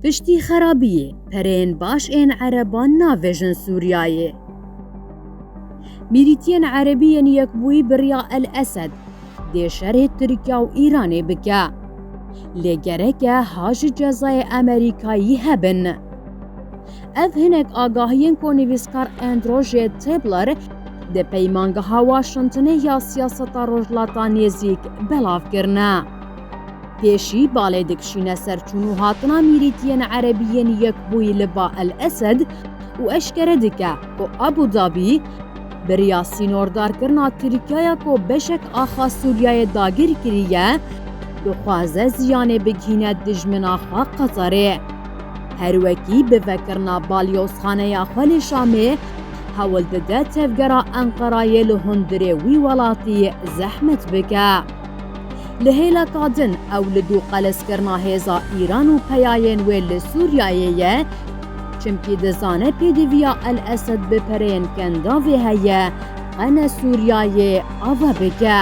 Piştî xerabiyê pereyên baş ên ereban navêjin Sûriyayê. Mîrîtiyên erebî yên yekbûyî biriya El-Esed dê şerê Tirkiya û Îranê bike. Lê gereke ha ji cezayê Amerîkayî hebin. Ev hinek agahiyên ku nivîskar Andrew J. Tabler di peymangeha Washingtonê ya siyaseta Rojhilata Nêzîk belav kirine. Pêşî balê dikişîne ser çûn û hatina mîrîtiyên Erebî yên Yekbûyî li ba El Esed û eşkere dike ku Abû Dabî biriya sînordarkirina Tirkiyaya ku beşek axa Sûriyeyê dagir kiriye, dixwaze ziyanê bigihîne dijmina xwe Qeterê. Her wekî bi vekirina balyozxaneya xwe li Şamê hewl dide tevgera Enqerayê li hundirê wî welatî zehmet bike. Li hêla ka din ew li dû qeleskirina hêza Îran û peyayên wê li Sûriyeyê ye, çimkî dizane pêdiviya El Esed bi pereyên kendavê heye qe ne Sûriyeyê ava bike.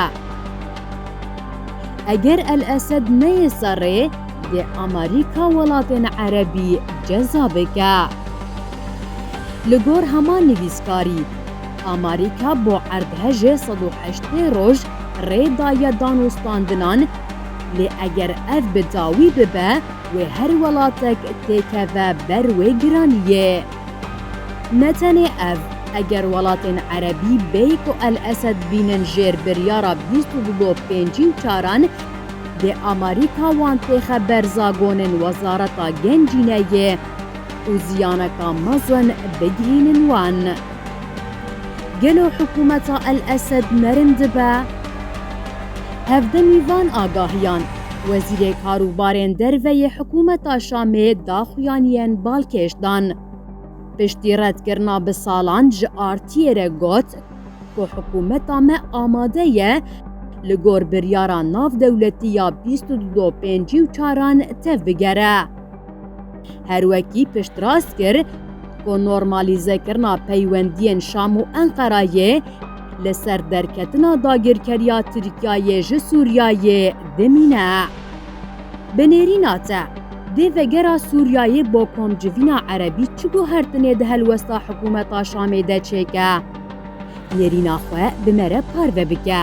Eger El Esed neyê serê, dê Amerîka welatên Erebî ceza bike. Li gor hema nivîskarî, Amarîka bo erdhejê sed û heştê roj rê daye danûstandinan, lê eger ev bi dawî bibe wê her welatek têkeve ber wê giraniyê. Ne tenê ev, eger welatên erebî bêyî ku El Esed bînin jêr biryara bîst û du bo pêncî û çaran, dê Amarîka wan têxe ber zagonên Wezareta Gencîneyê û ziyaneka mezin bigihînin wan. Gelo hikûmeta El Esed merin dibe? Hevdemî van agahiyan, Wezîrê Karûbarên Derve yê hikûmeta Şamê daxuyan yên balkêş dan. Piştî redkirina bi salan ji RT'ê re got ku hikûmeta me amade ye li gor biryara navdewletî ya bîst û du do pêncî û çaran tevbigere. Her wekî piştrast kir ku normalîzekirina peywendiyên Şam û Enqereyê li ser derketina dagirkeriya Tirkiyeyê ji Sûriyeyê dimîne. Bi nêrîna te, dê vegera Sûriyeyê bo komcivîna erebî çi guhertinê di helwesta hikûmeta Şamê de çêke? Nêrîna xwe bi me re parve bike.